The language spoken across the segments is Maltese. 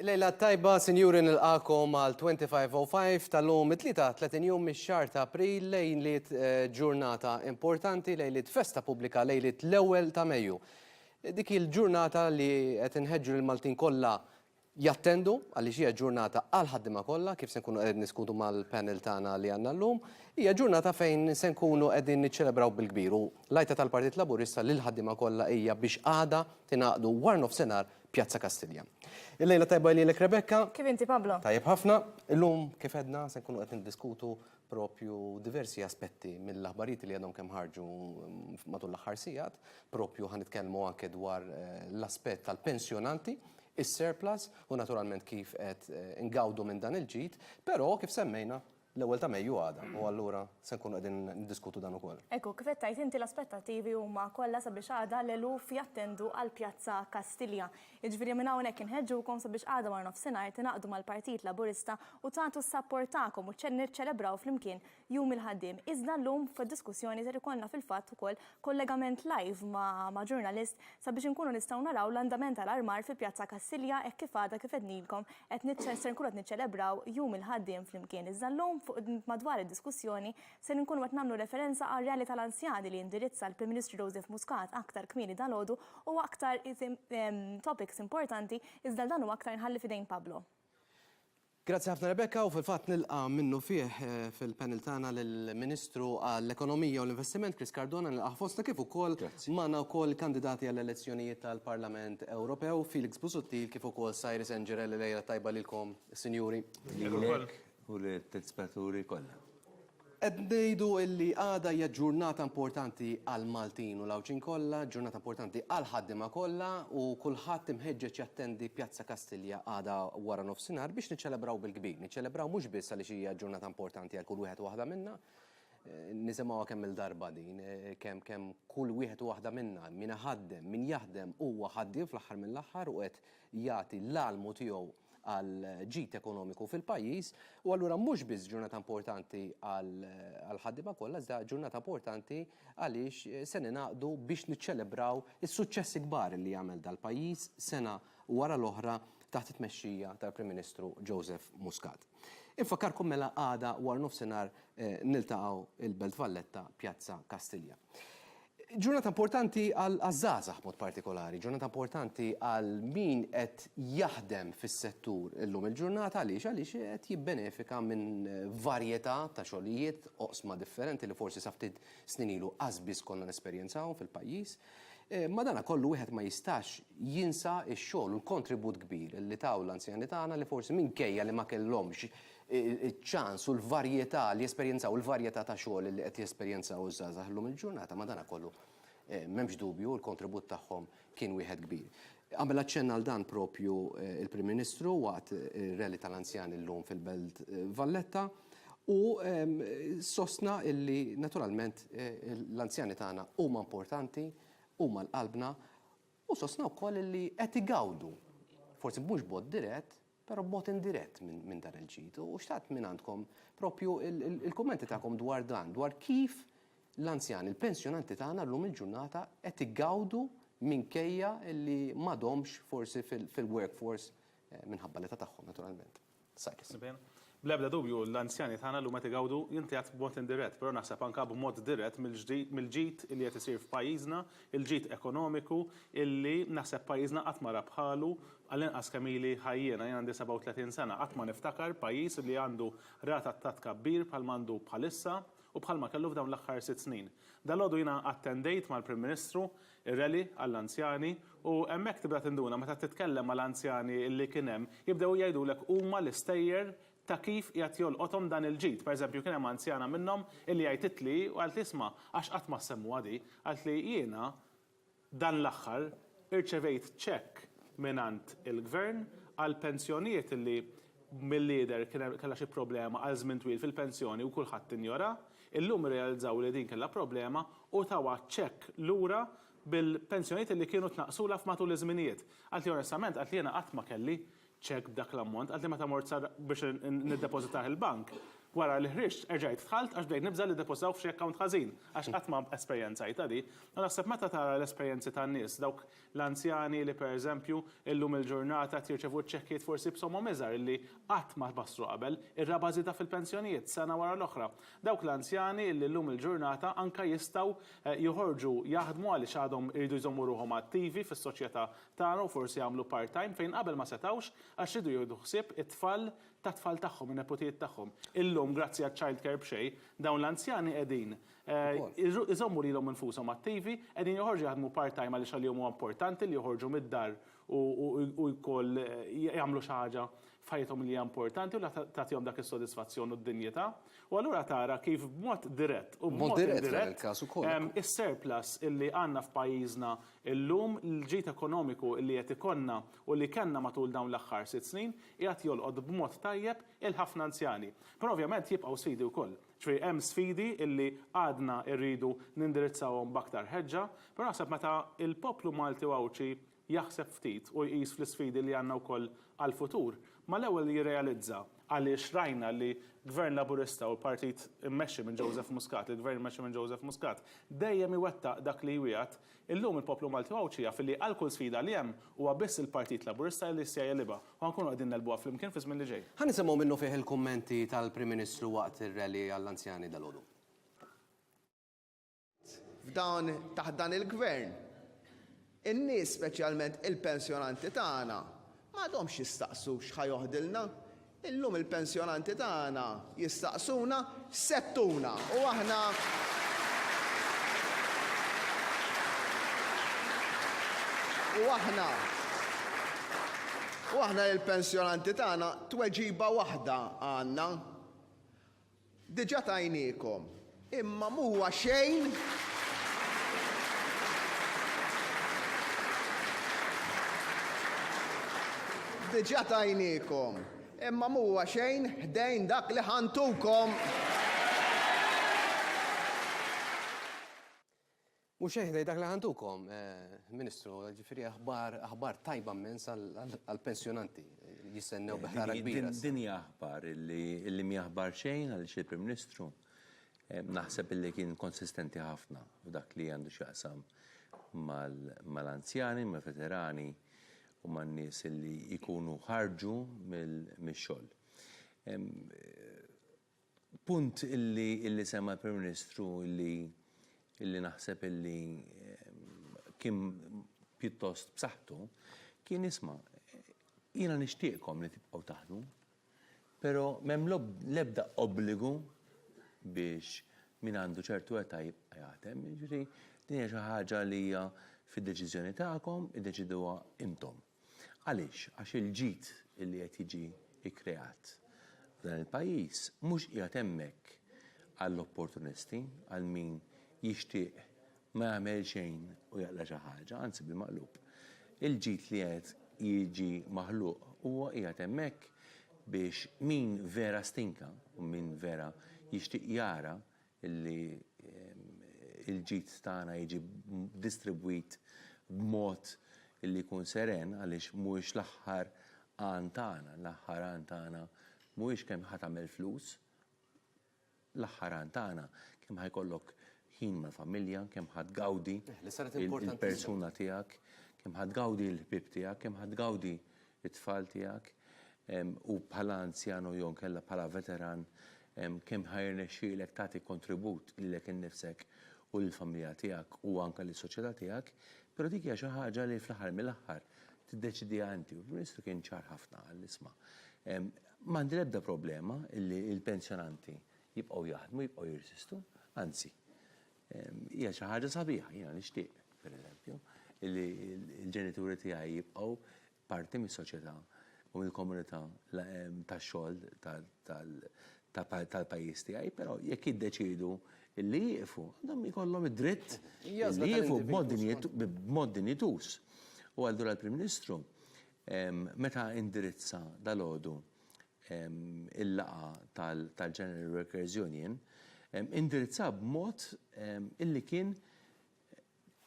Lejla tajba, sinjuri nilqakom għal 2505 tal-lum it-tlita 30 jum mix-xar ta' April lejliet eh, ġurnata importanti, lejliet festa pubblika, lejliet l-ewwel ta' Mejju. Dik il-ġurnata li qed inħeġġu l-Maltin kollha jattendu għaliex hija ġurnata għall-ħaddiema kollha kif se nkunu qegħdin niddiskutu mal-panel tagħna li għandna llum. Hija ġurnata fejn se nkunu qegħdin niċċelebraw bil-kbir u l-għajta tal-Partit Laburista lill-ħaddiema kollha hija biex għada tingħaqdu warnofsinhar Pjazza Kastilja. Il-lejla tajba lilek Rebecca. Kif inti Pablo? Tajjeb ħafna. Illum kif għedna se nkunu qed niddiskutu proprju diversi aspetti mill-aħbarijiet li għadhom kemm ħarġu matul l-aħħar sigħat, proprju ħa nitkellmu anke dwar l-aspett tal-pensjonanti, is-surplus u naturalment kif qed ingawdu minn dan il-ġid, però kif semmejna l-ewwel ta' Mejju għada u allura se nkunu qegħdin niddiskutu dan ukoll. Hekk hu, kif qed tgħid inti l-aspettattivi huma kollha sabiex għada l-eluf jattendu għall-Pjazza Kastilja. Jiġifieri minn hawnhekk inħeġġukom sabiex għada wara nofsinhar tingħaqdu mal-Partit Laburista u tagħtu s-sapport tagħkom u niċċelebraw flimkien Jum il-Ħaddiem. Iżda llum fid-diskussjoni ser ikollna fil-fatt ukoll kollegament live ma' ġurnalist sabiex inkunu nistgħu naraw l-andament tal-armar fi Pjazza Kassilja hekk kif għada kif għednilkom qed ser nkunu qed niċċelebraw Jum il-Ħaddiem flimkien. Iżda llum fuq madwar id-diskussjoni ser inkunu qed nagħmlu referenza għar-Rally tal-Anzjani li indirizza l-Prim Ministru Joseph Muscat aktar kmieni dalgħodu, huwa aktar topics importanti iżda dan u aktar nħalli f'idejn Pablo. Grazzi ħafna Rebecca u fil-fatt nilqa' minnufih fil-panel tagħna lill-Ministru għall-Ekonomija u l-Investiment Chris Cardona, nilqgħu fostna kif ukoll magħna wkoll il-kandidati għall-elezzjonijiet tal-Parlament Ewropew, Felix Busuttil kif ukoll Cyrus Engerel, il-lejla t-tajba lilkom sinjuri. Lilek. u lit-telspettaturi kollha. Qed ngħidu li għada hija ġurnata importanti għall-Maltin u l-Għawdxin kollha, ġurnata importanti għall-ħaddiema kollha u kulħadd imħeġġeġ jattendi Pjazza Kastilja għada wara nofsinhar biex niċċelebraw bil-kbir. Niċċelebraw mhux biss għaliex hija ġurnata importanti għal kull wieħed u waħda minna, nisimgħuha kemm-il darba din, kemm kemm kull wieħed u waħda minna, min iħaddem, min jaħdem huwa ħaddiem fl-aħħar mill-aħħar u qed jagħti l-għalmu tiegħu, għall-ġid ekonomiku fil-pajjiż u allura mhux biss ġurnata importanti għall-ħaddiema kollha iżda ġurnata importanti għaliex se ningħaqdu biex niċċelebraw is-suċċessi kbar li għamel dal-pajjiż sena wara l-oħra taħt it-tmexxija tal-Prim Ministru Joseph Muscat. Infakkarkom mela għada waranofsinhar niltaqgħu il-Belt Valletta, Pjazza Kastilja. Ġurnata importanti għaż-żgħażagħ b'mod partikolari, ġurnata importanti għal min qed jaħdem fis-settur illum il-ġurnata għaliex għaliex qed jibbenefika minn varjetà ta' xogħlijiet, oqsma differenti li forsi sa ftit snin ilu qas biss konna nesperjenzawhom fil-pajjiż. Madanakollu wieħed ma jistax jinsa x-xogħol u l-kontribut kbir li taw l-anzjani tagħna li forsi minkejja li ma kellhomx iċ-ċans u l-varjetà li jesperjenzaw, il-varjetà ta' xogħol li qed jesperjenzaw iż-żgħażagħ illum il-ġurnata, madankollu m'hemmx dubju li l-kontribut tagħhom kien wieħed kbir. Għamel aċċenn għal dan proprju il-Prim Ministru waqt ir-rally tal-anzjani llum fil-Belt Valletta u sostna li naturalment l-anzjani tagħna huma importanti, huma l-qalbna u sostna wkoll li qed igawdu, forsi mhux b'mod dirett, Però b'mod indirett minn dan il-ġid. U xtaqt mingħandkom proprju l-kummenti tagħkom dwar dan, dwar kif l-anzjani, l-pensjonanti tagħna llum il-ġurnata qed igawdu minkejja li m'għadhomx forsi fil-workforce minħabba l-età tagħhom naturalment. Cyrus. Bl-ebda dubju, l-anzjani tagħna llum qed igawdu, jien qed ngħid b'mod indirett, però naħseb anke b'mod dirett mill-ġid li qed isir f'pajjiżna, il-ġid ekonomiku illi naħseb pajjiżna qatt ma ra bħalu, għall-inqas kemm ili ħaj jiena, jien għandi 37 sena, qatt ma niftakar pajjiż li għandu rata ta' tkabbir bħalma għandu bħalissa u bħalma kellu f'dawn l-aħħar sitt snin. Dalgħodu jiena attendejt mal-Prim Ministru ir-rally għall-anzjani u hemmhekk tibda tinduna meta titkellem ma' l-anzjani li kien hemm jibdew jgħidulek huma l-istejjer ta' kif qiegħed jolqothom dan il-ġid. Per eżempju kien hemm anzjana minnhom illi għajtitli u qaltli isma' għax qatt ma ssemmuha di, qaltli jiena dan l-aħħar irċevejt cheque mingħand il-Gvern għall-pensjonijiet illi Milli jidher kien hemm kellha xi problema għal żmien twil fil-pensjoni u kulħadd injora. Illum irrealizzaw li din kellha problema u tawha ċekk lura bil-pensjonijiet li kienu tnaqqsulha f'matul iż-żminijiet. Qaltli onestament, qaltli jiena qatt ma kelli ċekk b'dak l-ammont, qaltli meta mort sa biex niddepożitah il-bank, wara li ħriġt erġajt dħalt għax bdejt nibża' li ddepożitawh f'xi account ħażin għax qatt ma esperjenzajtha di. U naħseb meta tara l-esperjenzi tan-nies, dawk L-anzjani li, pereżempju, illum il-ġurnata qed jirċevu ċ-ċekkijiet forsi b'somom iżgħar li qatt ma tbassru qabel, ir-raba' żieda fil-pensjonijiet sena wara l-oħra. Dawk l-anzjani li llum il-ġurnata anke jistgħu joħorġu jaħdmu għaliex għadhom iridu jżommu ruħhom attivi fis-soċjetà tagħna u forsi jagħmlu part-time fejn qabel ma setgħux għax riedu jieħdu ħsieb it-tfal tat-tfal tagħhom, in-neputijiet tagħhom. Illum, grazzi għaċ-childcare b'xejn, dawn l-anzjani qegħdin Iżommu lilhom infushom attivi, qegħdin joħorġu jaħdmu part-time għaliex għalihom huwa importanti li joħorġu mid-dar u wkoll jagħmlu xi ħaġa f'ħajjithom li hija importanti u li tagħtihom dak is-sodisfazzjon u d-dinjità. U allura tara kif b'mod dirett u b'mod indirett is-surplus li għandna f'pajjiżna llum, l-ġid ekonomiku li qed ikollna u li kellna matul dawn l-aħħar sitt snin, qiegħed jolqot b'mod tajjeb 'il ħafna anzjani. Però ovvjament jibqgħu sfidi wkoll. Ġifieri hemm sfidi illi għadna rridu nindirizzawhom b'aktar ħeġġa, però naħseb meta l-poplu Malti u Għawdxi jaħseb ftit u jqis fl-isfidi li għandna wkoll għall-futur, mal-ewwel jirrealizza għaliex rajna li Gvern Laburista u l-Partit immexxi minn Joseph Muscat, il-Gvern immexxi minn Joseph Muscat, dejjem iwettaq dak li jwiegħed, Illum il-poplu Malti u Għawdxi jaf li għal kull sfida li hemm, huwa biss il-Partit Laburista li jista' jegħlibha u ħa nkunu qegħdin negħlbuha flimkien fiż-żmien li ġej. Ħa nisimgħu minnufih il-kummenti tal-Prim Ministru waqt ir-rally għall-anzjani dalgħodu. F'dan taħt dan il-Gvern, in-nies speċjalment il-pensjonanti tagħna m'għadhomx jistaqsu x'ħa joħdilna Illum il-pensjonanti tagħna jistaqsuna x'se ttuna u aħna. U aħna. U aħna lill-pensjonanti tagħna tweġiba waħda għandna. Diġà tajniekom, imma m'huwa xejn Diġà tajniekom, imma m'huwa xejn ħdejn dak li ħa ntukom. Mhux hekk ngħid dak li ħa ntukom, Ministru, jiġifieri aħbar, aħbar tajba mmens għall-pensjonanti, jistennew bi ħrara kbira. Din hija aħbar illi, illi mhi aħbar xejn għaliex il-Prim Ministru naħseb illi kien konsistenti ħafna f'dak li għandu x'jaqsam mal, mal-anzjani, mal-veterani u man-nies illi jkunu ħarġu mill, mix-xogħol. Punt illi semma l-Prim Ministru illi naħseb illi kien pjuttost b'saħħtu kien isma', jiena nixtieqkom li tibqgħu taħdmu, però m'hemm l-ebda obbligu biex min għandu ċertu età jibqa' jaħdem, jiġifieri din hija xi ħaġa li hija fid-deċiżjoni tagħkom, iddeċiduha intom. Għaliex? Għax il-ġid li qed jiġi kkreat f'dan il-pajjiż mhux qiegħed hemmhekk għall-opportunisti, għal min jixtieq ma jagħmel xejn u jaqla' xi ħaġa, anzi bil-maqlub. Il-ġid li qed jiġi maħluq huwa qiegħed hemmhekk biex min vera stinka u min vera jixtieq jara li l-ġid tagħna jiġi distribwit b'mod li jkun seren għaliex mhuwiex l-aħħar għan tagħna. L-aħħar għan tagħna mhuwiex kemm ħa tagħmel flus. L-aħħar għan tagħna kemm ħa jkollok ħin mal-familja, kemm ħa tgawdi l-persuna tiegħek, kemm ħa tgawdi l-ħbieb tiegħek, kemm ħa tgawdi it-tfal tiegħek, u bħala anzjan u jew inkella bħala veteran, kemm ħa jirnexxielek tagħti kontribut lilek innifsek u lill-familja tiegħek u anke lis-soċjetà tiegħek, però dik hija xi ħaġa li fl-aħħar mill-aħħar tiddeċidiha inti. U l-Ministru kien ċar ħafna qal li isma', ma għandi l-ebda problema li l-pensjonanti jibqgħu jaħdmu, jibqgħu jirsistu, anzi, Hija xi ħaġa sabiħa, jiena nixtieq, pereżempju, li l-ġenituri tiegħi jibqgħu parti mis-soċjetà u mill-komunità tax-xogħol tal-pajjiż tiegħi, però jekk jiddeċiedu li jieqfu, għandhom ikollhom id-dritt li jieqfu b'mod dinjituż. U allura l-Prim Ministru meta indirizza dalgħodu il-laqgħa tal-General Workers Union, indirizzah b'mod illi kien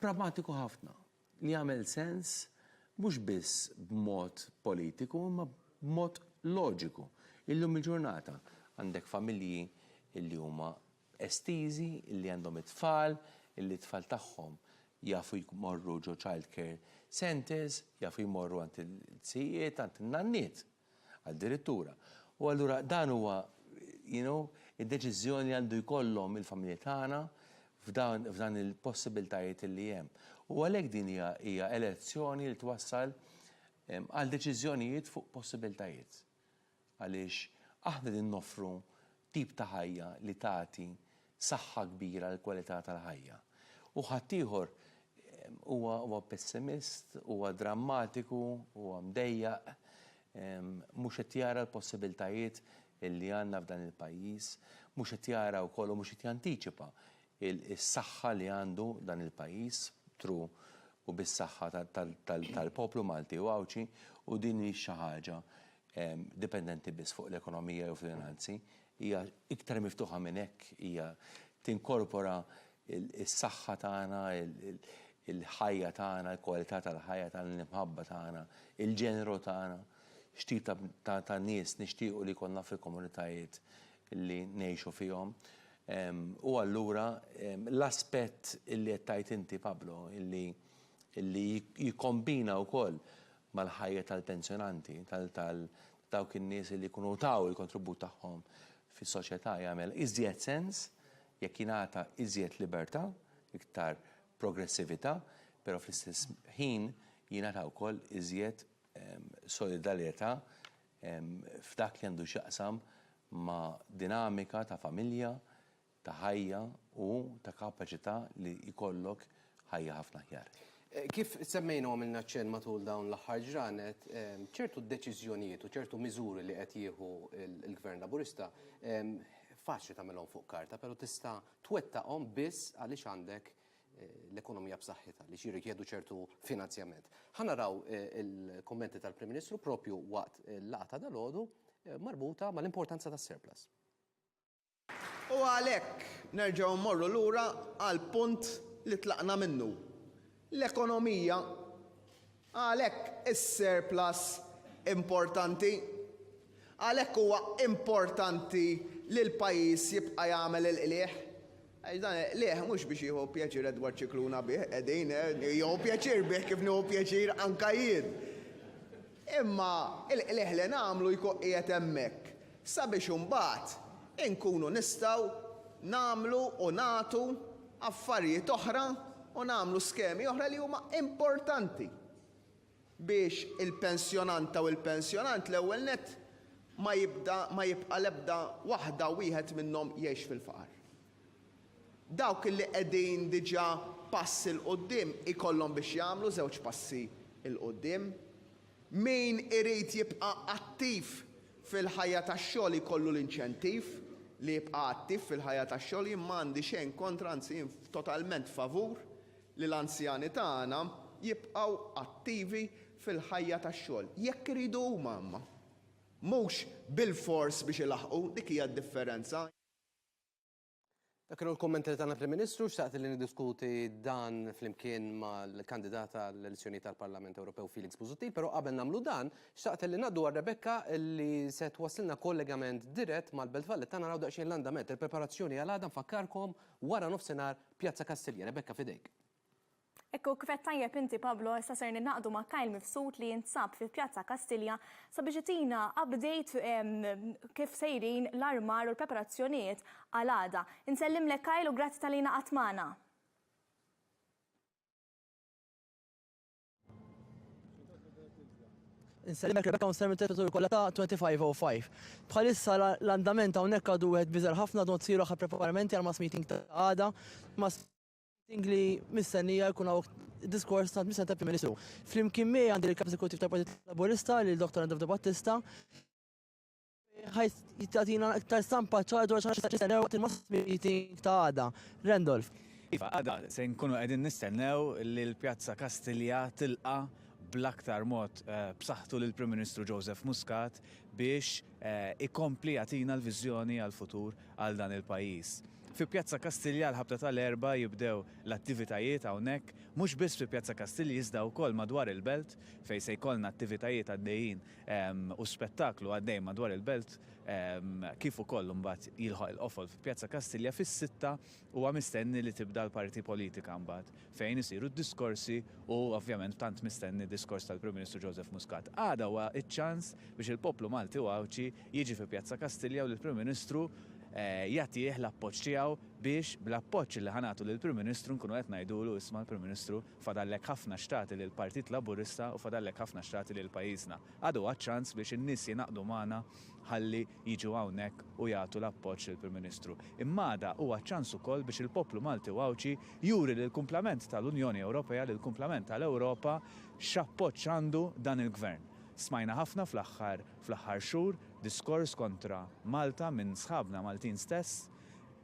pragmatiku ħafna, li għamel sens mhux biss b'mod politiku imma b'mod loġiku. Illum il-ġurnata għandek familji illi huma estiżi, illi għandhom it-tfal, illi t-tfal tagħhom jafu jmorru ġo childcare centres, jafu jmorru għand il-ġdjiet, għand in-nanniet. Addirittura. U allura dan huwa, you know, id-deċiżjoni li għandu jkollhom il-familji tagħna f'dan il-possibiltajiet li hemm. U għalhekk din hija hija elezzjoni li twassal għal deċiżjonijiet fuq possibiltajiet. Għaliex aħna qegħdin noffru tip ta' ħajja li tagħti saħħa kbira għall-kwalità tal-ħajja. U ħaddieħor huwa pessimist, huwa drammatiku, huwa mdejjaq, mhux qed jara l-possibiltajiet li għandna f'dan il-pajjiż, mhux qed jara wkoll u mhux qed jantiċipa s-saħħa li għandu dan il-pajjiż b'tru u bis-saħħa tal-poplu Malti u Għawdxi u din mhix xi ħaġa dipendenti biss fuq l-ekonomija jew fil-finanzi, Hija iktar miftuħa minn hekk, hija tinkorpora s-saħħa tagħna, il-ħajja tagħna, il-kwalità tal-ħajja tagħna, l-imħabba tagħna, il-ġeneru tagħna, x'tip ta' nies nixtiequ li jkollna fil-komunitajiet li ngħixu fihom. U allura l-aspett li qed tgħid inti Pablo, li jikkombina wkoll mal-ħajja tal-pensjonanti, dawk in-nies li jkunu taw il-kontribut tagħhom fis-soċjetà jagħmel iżjed sens jekk jingħata iżjed libertà, iktar progressività, però fl-istess ħin jingħata wkoll iżjed solidarjetà f'dak li għandu x'jaqsam ma' dinamika ta' familja, ta' ħajja u ta' kapaċità li jkollok ħajja ħafna aħjar. Kif semmejna u għamilna ċenn matul dawn l-aħħar ġranet, ċertu deċiżjonijiet u ċertu miżuri li qed jieħu l-Gvern Laburista faċli tagħmilhom fuq karta, però tista' twettaqhom biss għaliex għandek l-ekonomija b'saħħitha, għaliex jirrikjedu ċertu finanzjament. Ħa naraw il-kummenti tal-Prim Ministru proprju waqt il-laqgħa ta' dalgħodu marbuta mal-importanza tas-surplus. U għalhekk nerġgħu mmorru lura għall-punt li tlaqna minnu. L-ekonomija għalhekk is-surplus importanti. Għalhekk huwa importanti li l-pajjiż jibqa' jagħmel il-qligħ. Għax dan il-qligħ mhux biex jieħu pjaċir Edward Scicluna bih, qegħdin, jieħu pjaċir bih kif nieħu pjaċir anke jien. Imma l-qligħ li nagħmlu jkun qiegħed hemmhekk sabiex imbagħad inkunu nistgħu nagħmlu u nagħtu affarijiet oħra u nagħmlu skemi oħra li huma importanti. biex il-pensjonanta u l-pensjonant l-ewwel nett ma jibda ma jibqa' l-ebda waħda u wieħed minnhom jgħix fil-faqar. Dawk li qegħdin diġà pass 'il quddiem ikollhom biex jagħmlu żewġ passi 'il quddiem. Min irid jibqa' attiv fil-ħajja tax-xogħol jkollu l-inċentiv li jibqa' attiv fil-ħajja tax-xogħol. Jien ma għandi xejn kontra anzi jien totalment favur li l-anzjani tagħna jibqgħu attivi fil-ħajja tax-xogħol, jekk iridu huma imma mhux bilfors biex ilaħħqu, dik hija d-differenza. Dak kienu l-kummenti li tana l-Prim Ministru. Xtaqt li niddiskuti dan flimkien mal-kandidat għall-elezzjonijiet għall-Parlament Ewropew Felix Busuttil, però qabel nagħmlu dan, xtaqt li ngħaddu għal Rebecca li se twassilna kollegament dirett mal-Belt Valletta naraw daqsxejn l-andament, il-preparazzjoni għal għada nfakkarkom wara nofsinhar Pjazza Kastilja, Rebecca f'idejk. Hekk hu kif għedt tajjeb inti Pablo, issa ser ningħaqdu ma' Kyle Mifsud li jinsab fi Pjazza Kastilja sabiex itina update kif sejrin l-armar u l-preparazzjonijiet għal għada. Insellimlek Kyle u grazzi talli ngħaqadt magħna. Inselimek Rebecca Unsermi Territoru kollha ta' 2505. Bħalissa l-andament hawnhekk għadu wieħed biżar ħafna dont siru ħa preparamenti għal mass meeting ta' għada. Mass meeting li mistennija jkun hawn diskors ta' mistennija ta' Prim Ministru. Flimkien miegħi għandi l-Kap Eżekuttiv tal-Partit Laburista lil Dr. Andrew De Battista Ħajt jittatina iktar stampa ċara dwar xax jistennew waqt il-mass meeting ta' għada. Randolph. Iva, għada se nkunu qegħdin nistennew li l-Pjazza Kastilja tilqa' bl-aktar mod b'saħħtu lill-Prim Ministru Joseph Muscat biex ikompli jagħtina l-viżjoni għall-futur għal dan il-pajjiż. Fi Pjazza Kastilja l-Ħabta ta' l-Erbgħa jibdew l-attivitajiet hawnhekk, mhux biss fi Pjazza Kastilja iżda wkoll madwar il-belt fejn se jkollna attivitajiet għaddejjin u spettaklu għaddej madwar il-belt kif ukoll imbagħad jilħaq il-qofol fi Pjazza Kastilja fis-sitta huwa mistenni li tibda l-parti politika mbagħad fejn isiru d-diskorsi u ovvjament tant mistenni diskors tal-Prim Ministru Joseph Muscat. Għada huwa ċ-ċans biex il-poplu Malti u Għawdxi jiġi fi Pjazza Kastilja u lill-Prim Ministru jagħtih l-appoġġ tiegħu biex bl-appoġġ li ħa nagħtu lill-Prim Ministru nkunu qed ngħidulu isma' l-Prim Ministru Fadallek ħafna x'tagħti lill-Partit Laburista u fadallek ħafna x'tagħti lil pajjiżna. Għadu għad ċans biex in-nies jingħaqdu magħna ħalli jiġu hawnhekk u jagħtu l-appoġġ lill-Prim Ministru. Imma għada huwa ċ-ċans ukoll biex il-poplu Malti u Għawdxi juri lill-kumplament tal-Unjoni Ewropea, lill-kumplament tal-Ewropa x'appoġġ għandu dan il-Gvern. Smajna ħafna fl-aħħar fl-aħħar xhur diskors kontra Malta minn sħabna Maltin stess,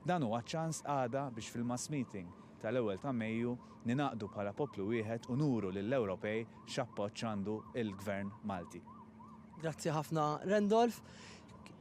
Dan huwa ċ-ċans għada biex fil-mass meeting tal-ewwel ta' Mejju ningħaqdu bħala poplu wieħed u nuru lill-Ewropej x'appoġġ għandu l-Gvern Malti. Grazzi ħafna Rendolf.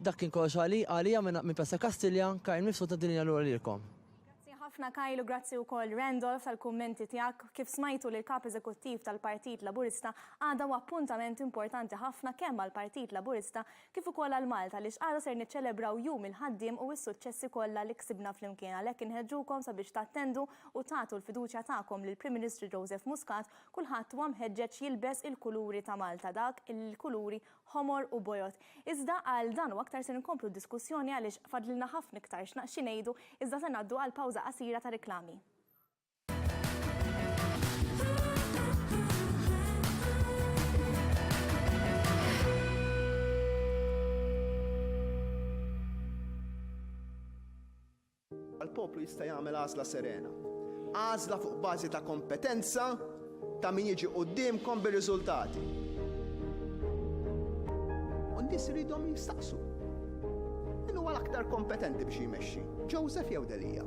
Dak kien kollox għalija minn Piazza Kastilja. Kyle Mifsud ngħaddi l-linja lura lilkom. Grazzi ħafna Kyle u grazzi wkoll Rendolf tal-kummenti tiegħek. Kif smajtu lill-Kap Eżekuttiv tal-Partit Laburista, għada huwa appuntament importanti ħafna kemm għall-Partit Laburista kif ukoll għal Malta għaliex għada ser niċċelebraw Jum il-Ħaddiem u s-suċċessi kollha li ksibna flimkien għalhekk inħeġġukom sabiex tattendu u tagħtu l-fiduċja tagħkom lill-Prim Ministru Joseph Muscat kulħadd huwa mħeġġeġ jilbes il-kuluri ta' Malta dak il-kuluri ħomor u bojod iżda għal dan u aktar ser inkomplu d-diskussjoni għaliex fadlilna ħafna iktar xi ngħidu iżda se ngħaddu għal pawża qasira ta' riklami. Għall-poplu jista' jagħmel għażla serena. Għażla fuq bażi ta' kompetenza, Ta' min jiġi quddiemkom bir-riżultati. U n-nies iridhom jistaqsu, Min huwa l-aktar kompetenti biex jmexxi, Joseph jew Delia?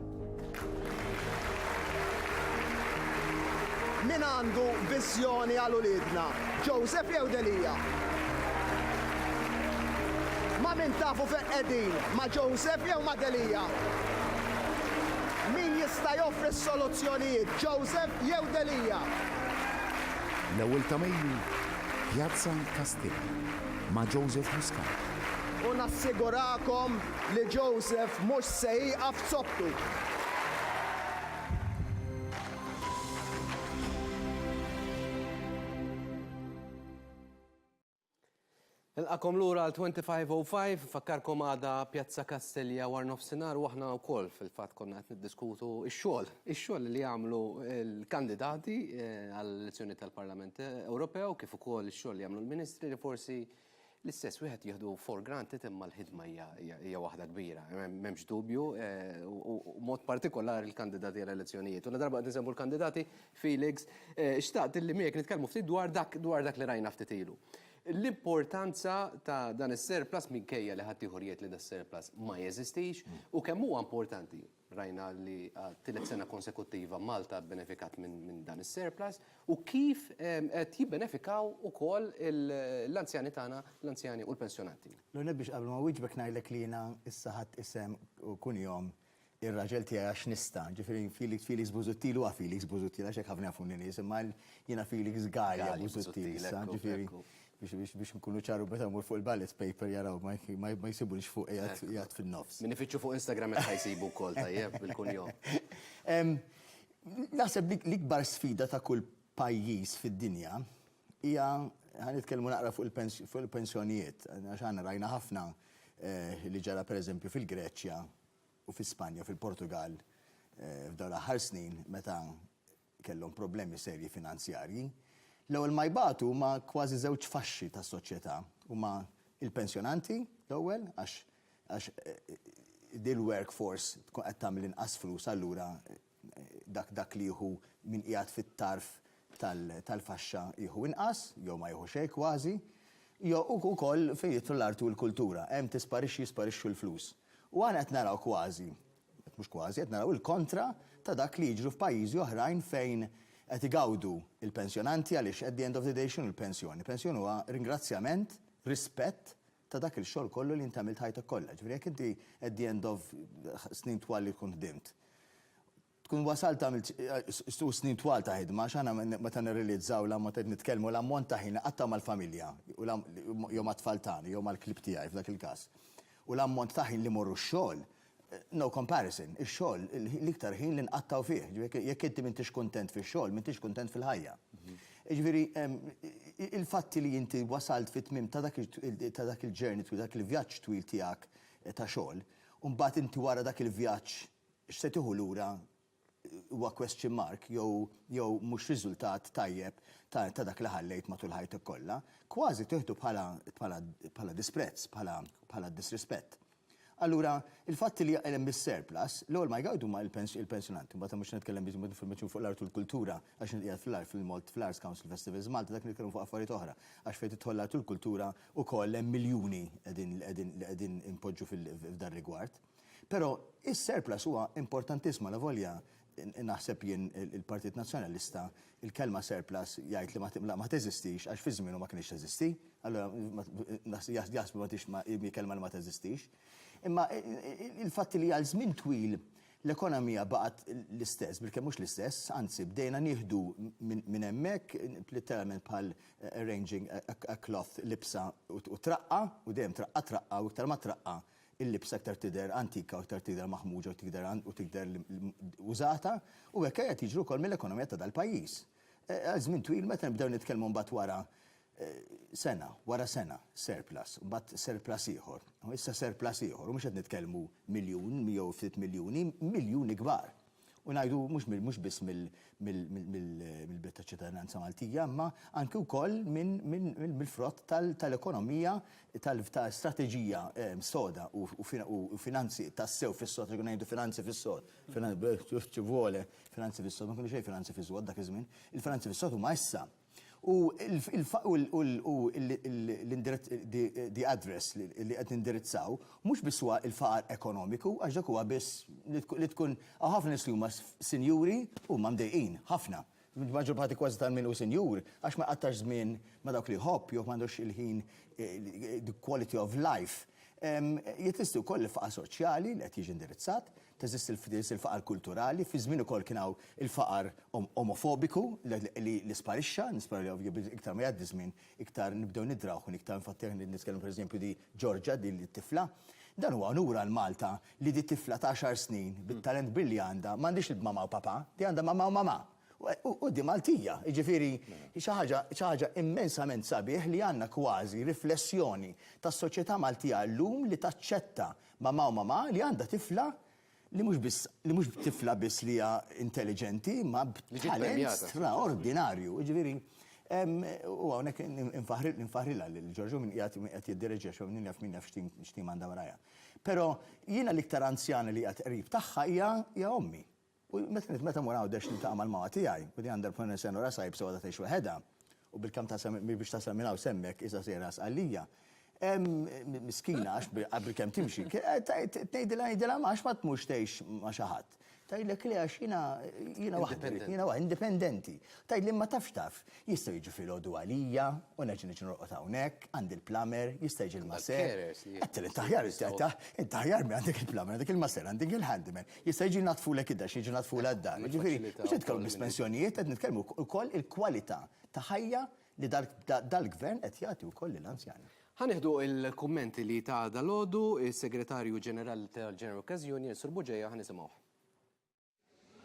Min għandu viżjoni għal uliedna, Joseph jew Delia? Ma' min tafu fejn qegħdin, ma' Joseph jew ma' Delia? Min jista' joffri s-soluzzjonijiet, Joseph jew Delia? L-ewwel ta' Mejju, Pjazza Kastell, ma' Joseph Muscat. U nassigurakom li Joseph mhux se jieqaf zoptu. Nilqakom lura għal 2505, fakkarkom għada Pjazza Kastilja war nofsinhar u aħna wkoll fil-fatt konna qed niddiskutu x-xogħol, ix-xogħol li jagħmlu l-kandidati eh, għall-elezzjoni tal-Parlament Ewropew kif ukoll ix-xogħol li jagħmlu l-Ministri li forsi l-istess wieħed jieħdu for granted imma l-ħidma hija waħda kbira, m'hemmx dubju, eh, u mod partikolari l-kandidati għall-elezzjonijiet. U darba qed nisemmu l-kandidati, Felix, xtaqt illi miegħek nitkellmu ftit dwar dak dwar dak li rajna ftit ilu. L-importanza ta' dan is-surplus minkejja li ħaddieħor jgħid li das-surplus ma jeżistix u kemm huwa importanti, rajna li għat-tielet sena konsekuttiva Malta bbenefikat minn dan is-surplus, u kif qed jibbenefikaw ukoll l-anzjani tagħna, l-anzjani u l-pensjonanti. L-ewwel nett biex qabel ma nwieġbek ngħidlek li jiena issa ħadt isem u kunjom ir-raġel tiegħi għax nista', ġifieri Felix Felix Busuttil huwa Felix Busuttil għax hekk ħafna jafuni nies, imma jiena Felix Galea Busuttil issa, ġifieri biex nkunu ċaru meta mmur fuq il-ballot paper jaraw ma jsibunix fuq qiegħed fin-nofs. Min ifittxu fuq Instagram hekk ħa jsibu wkoll tajjeb bil-kunjom. Naħseb li l-ikbar sfida ta' kull pajjiż fid-dinja Hija, ħa nitkellmu naqra fuq il-pensjonijiet, għax aħna rajna ħafna li ġara pereżempju fil-Greċja u fi Spanja, fil-Portugall f'dawn l-aħħar snin meta kellhom problemi serji finanzjarji. L-ewwel ma jbatu huma kważi żewġ faxxi tas-soċjetà, huma l-pensjonanti l-ewwel għax din l-workforce tkun qed tagħmel inqas flus allura dak dak li jieħu min qiegħed fit-tarf tal-faxxa jieħu inqas, jew ma jieħu xejn kważi, jew ukoll fejn jidħlu l-arti u l-kultura, hemm tisparixxi jisparixxu l-flus. U aħna qed naraw kważi, mhux kważi, qed naraw il-kontra ta' dak li jiġru f'pajjiżi oħrajn fejn qed igawdu l-pensjonanti għaliex at the end of the day x'inhu l-pensjoni? Pensjoni huwa ringrazzjament, rispett ta' dak il-xogħol kollu li int għamilt ħajtek kollha. Ġifieri jekk inti at the end of snin twal li tkun ħdimt, tkun wasalt għamilt u snin twal ta' ħidma, għax aħna meta nirrealizzaw l-ammont qed nitkellmu l-ammont ta' ħin li qattgħu mal-familja jew mat-tfal tagħna jew mal-klieb tiegħi f'dak il-każ. U l-ammont ta' ħin li mmorru x-xogħol, No comparison, ix-xogħol l-iktar ħin li nqattgħu fih, ġifieri jekk inti m'intix kuntent fix-xogħol, m'intix kuntent fil-ħajja. Jiġifieri il-fatti li inti wasalt fit-tmiem ta' dak ta' dak il-journey twil, dak il-vjaġġ twil tiegħek ta' xogħol, u mbagħad inti wara dak il-vjaġġ x'se tieħu lura huwa question mark jew jew mhux riżultat tajjeb ta' ta' dak li ħallejt matul ħajtek kollha, kważi tieħdu bħala bħala bħala disprezz, bħala bħala disrispett. Allura, il-fatt li hemm is-surplus, l-ewwel ma jgawdu huma il-pensjonanti, mbagħad mhux se nitkellem biss informazzjoni fuq l-art u l-kultura għax qiegħed fl-art fil-Malt fl-Arts Council Festivals Malta dak nitkellmu fuq affarijiet oħra għax fejn tidħol l-art u l-kultura wkoll hemm miljuni qegħdin li qegħdin li qegħdin inpoġġu f'dan rigward. Però is-surplus huwa importantiss malavolja naħseb jien il-Partit Nazzjonalista il-kelma surplus jgħid li ma ma teżistix għax fi żmienu ma kinitx teżisti, allura jaħsbu ma tix hi kelma li ma teżistix. Imma il-fatt li għal żmien twil l-ekonomija baqgħet l-istess, bilkemm mhux l-istess, anzi bdejna nieħdu minn hemmhekk litteralment bħal arranging a cloth libsa u traqqa' u dejjem traqqa' traqqa' u iktar ma traqqa' il-libsa iktar tidher antika u iktar tidher maħmuġa u tidher użata u hekk qed jiġri wkoll mill-ekonomija ta' dal-pajjiż. Għal żmien twil meta nibdew nitkellmu mbagħad wara sena, wara sena surplus, mbagħad surplus ieħor, u issa surplus ieħor u mhux qed nitkellmu miljun jew ftit miljuni, miljuni kbar. U ngħidu mhux mhux biss mill-belt taċ-ċittadinanza Maltija, imma anki wkoll mill-frott tal-ekonomija tal-strateġija soda u finanzi tas-sew fis-sod, li ngħidu finanzi fis-sod. Finanzi fis-sod, ma kienu xejn finanzi fis-sod dak iż-żmien. Il-finanzi fis-sod huma issa. U the address li qed nindirizzaw mhux biss huwa l-faqar ekonomiku għax dak huwa biss li tkun hawn ħafna nies li huma sinjuri u huma mdejqin ħafna. Il-maġġor parti kważi ta' min hu sinjur għax ma jqattax żmien ma' dawk li jħobb jew m'għandux il-ħin the quality of life. Jeżisti wkoll il-faqar soċjali li qed jiġi indirizzat. teżisti l-fdils, il-faqar kulturali, fi żmien ukoll kien hawn il-faqar omofobiku li sparixxa, nispera li ovvju iktar ma jgħaddi żmien iktar nibdew nidrawh minn iktar infatti aħna qed nitkellmu pereżempju di Georgia din it-tifla. Dan huwa unur għal Malta li di tifla ta' għaxar snin bit-talent kbir li għandha m'għandhiex l-mama u papa, di għandha mama u mamà. U di Maltija, jiġifieri xi ħaġa xi ħaġa immensament sabiħ li għandna kważi riflessjoni tas-soċjetà Maltija llum li taċċetta Mamà u mamà li għandha tifla li mhux biss li mhux tifla biss li hija intelliġenti imma b'talent straordinarju. Jiġifieri u hawnhekk infaħħrilha lil Ġorġ u min qiegħed min qed jiddireġiha xi min jaf min jaf x'tim x'tim għandha warajha. Però jiena l-iktar anzjana li qiegħed qrib tagħha hija hija ommi. U meta mur Għawdex niltaqa' mal-mama tiegħi, u din għandha l-problema li s-Senjura Saips għadha tgħix waħedha, u bil-kamm ta' sa biex tasal minn hawn s'hemmhekk issa sejra Sqallija. Miskina għax bil-kemm timxi. Tgħidilha ngħidilha għax ma tmurx tgħix ma' xi ħadd. Tgħidlek le għax jiena waħda, jiena waħda, indipendenti. Tgħidli ma tafx taf. Jista' jiġi filgħodu għalija u nerġa' niġi norqod hawnhekk, għandi l-plumber, jista' jiġi l-maser. Għedtilha int aħjar int aħjar minn għandek il-plumber, għandek il-maser, għandek il-handyman. Jista' jiġi jnaddfulek id-dar xi jiġu jnaddfulha d-dar. Jiġifieri mhux qed nitkellmu biss pensjonijiet, qed nitkellmu wkoll il-kwalità ta' ħajja li dal-Gvern qed jagħti wkoll lill-anzjani. Ħa nieħdu l-kummenti li ta dalgħodu s-Segretarju Ġenerali tal-General Cash Union, Sur Bugeja, ħa nisimgħuh.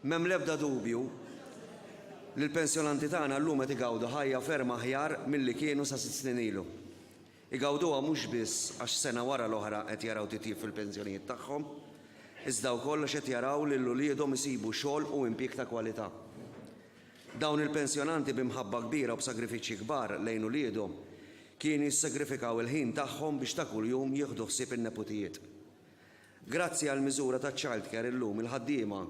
M'hemm l-ebda dubju li l-pensjonanti tagħna llum qed igawdu ħajja ferm aħjar milli kienu sa sitt snin ilu. Igawduha mhux biss għax sena wara l-oħra qed jaraw titjib fil-pensjonijiet tagħhom, iżda wkoll għax qed jaraw lil uliedhom isibu xogħol u impjieg ta' kwalità. Dawn il-pensjonanti bi mħabba kbira u b'sagrifiċċji kbar lejn uliedhom kienu jissagrifikaw il-ħin tagħhom biex ta' kuljum jieħdu ħsieb in-neputijiet. Grazzi għall-miżura taċ-childcare illum il-ħaddiema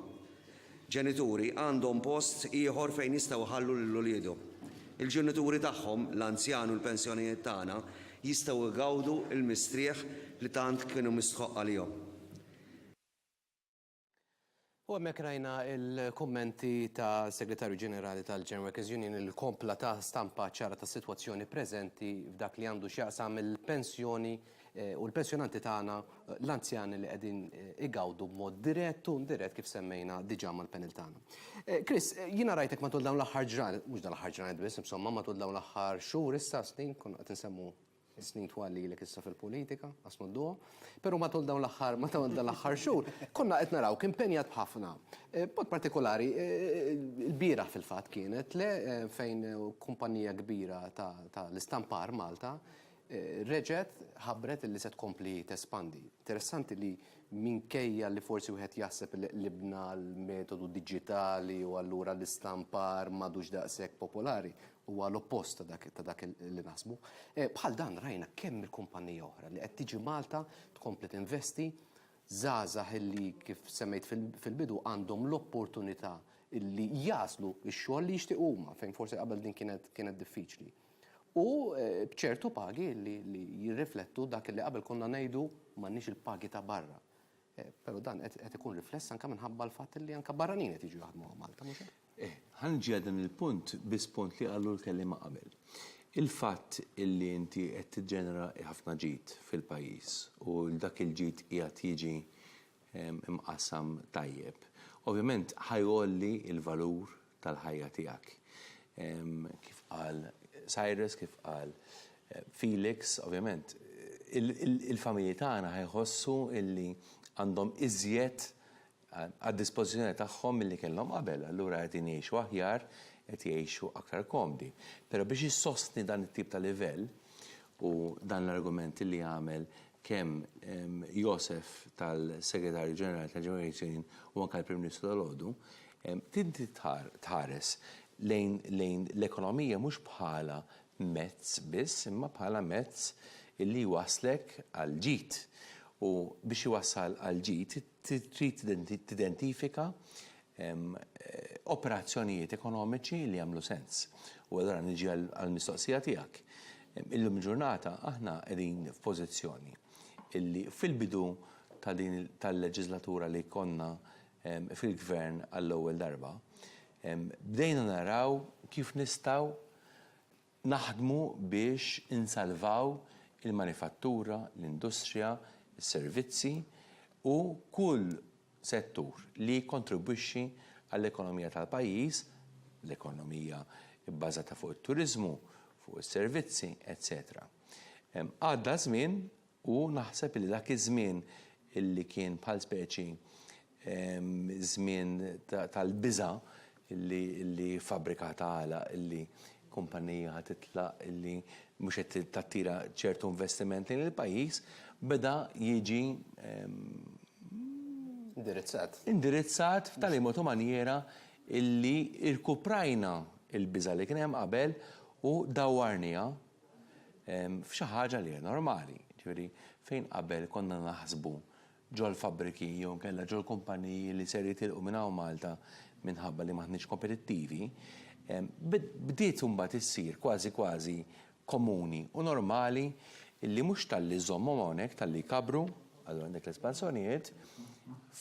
ġenituri għandhom post ieħor fejn jistgħu jħallu lil uliedhom. Il-ġenituri tagħhom, l-anzjani u l-pensjonijiet tagħna jistgħu jgawdu l-mistrieħ li tant kienu mistħoqq għalihom. U hemmhekk rajna l-kummenti tas-Segretarju Ġenerali tal-German Workers' Union li kompla ta stampa ċara tas-sitwazzjoni preżenti f'dak li għandu x'jaqsam il-pensjoni u l-pensjonanti tagħna, l-anzjani li qegħdin igawdu b'mod dirett u indirett kif semmejna diġà mal-panel tagħna. Chris, jiena rajtek matul dawn l-aħħar ġranet, mhux dan l-aħħar ġranet biss, insomma, matul dawn l-aħħar xhur issa, snin, konna qed insemmu Snin twal lilek issa fil-politika, qasmu d-duo, però matul dawn l-aħħar ma dawn l-aħħar xhur konna qed narawk impenjat b'ħafna. B'mod partikolari l-bieraħ fil-fatt kienet le fejn kumpanija kbira ta' l-istampar Malta reġgħet ħabbret illi se tkompli tespandi. Interessanti li minkejja li forsi wieħed jaħseb li qlibna għall-metodu diġitali u allura l-istampar m'għadux daqshekk popolari, Huwa l-oppost ta' dak ta' dak li naħsbu. Bħal dan rajna kemm il-kumpanija oħra li qed tiġi Malta tkompli tinvesti, żgħażagħ illi kif semmejt fil-bidu għandhom l-opportunità illi jagħżlu x-xogħol li jixtiequ huma fejn forsi qabel din kienet kienet diffiċli. U b'ċertu pagi li li jirriflettu dak illi qabel konna ngħidu m'għandniex il-pagi ta' barra. Però dan qed qed ikun rifless anke minħabba l-fatt illi anke barranin qed jiġu jaħdmu hawn Malta, mhux hekk? Eh, ħa niġi għal dan il-punt biss punt li qalu l-kelliema qabel. Il-fatt illi inti qed tiġġenera ħafna ġid fil-pajjiż u dak il-ġid qiegħed jiġi ehm, imqassam tajjeb, ovvjament ħa jgħolli l-valur tal-ħajja tiegħek. Ehm, kif qal Cyrus, kif qal eh, Felix, ovvjament il-familji tagħna ħajħossu illi għandhom iżjed għad-dispożizzjoni tagħhom milli kellhom qabel, allura qegħdin jgħixu aħjar, qed jgħixu aktar komdi. Però biex issostni dan it-tip ta' livell, u dan l-argument li għamel kemm Joseph tal-Segretarju Ġenerali tal-Ġenerazzjoni u anke l-Prim Ministru dalgħodu, inti tħares lejn l-ekonomija mhux bħala mezz biss, imma bħala mezz li jwasslek għall-ġid. U biex iwassal għall-ġid, trid tidentifika operazzjonijiet ekonomiċi li jagħmlu sens. U allura niġi għall-mistoqsija tiegħek. Illum il-ġurnata aħna qegħdin f'pożizzjoni illi fil-bidu ta' din tal-leġislatura li konna fil-gvern għall-ewwel darba, bdejna naraw kif nistgħu Naħdmu biex insalvaw il-manifattura, l-industrija, is-servizzi u kull settur li jikkontribwixxi għall-ekonomija tal-pajjiż, l-ekonomija bbażata fuq it-turiżmu, fuq is-servizzi, eċċetera Għadda ż-żmien U naħseb li dak iż-żmien li kien bħal speċi żmien tal-biża' li fabbrika tagħlaq, li kumpanija ħa titlaq, li mhux qed tattira ċertu investiment lejn il-pajjiż, beda jiġi indirizzat f'tali mod u manjiera li rkuprajna l-biża' li kien hemm qabel u dawwarniha. f'xi ħaġa li hija normali. Ġifieri, fejn qabel konna naħsbu ġol-fabbriki jew inkella ġol-kumpaniji li ser jitilqu minn hawn Malta minħabba li m'aħniex kompetittivi, bdiet imbagħad issir kważi kważi komuni u normali li mhux talli żżommhom hawnhekk, talli jkabbru, allura għandek l-espansjonijiet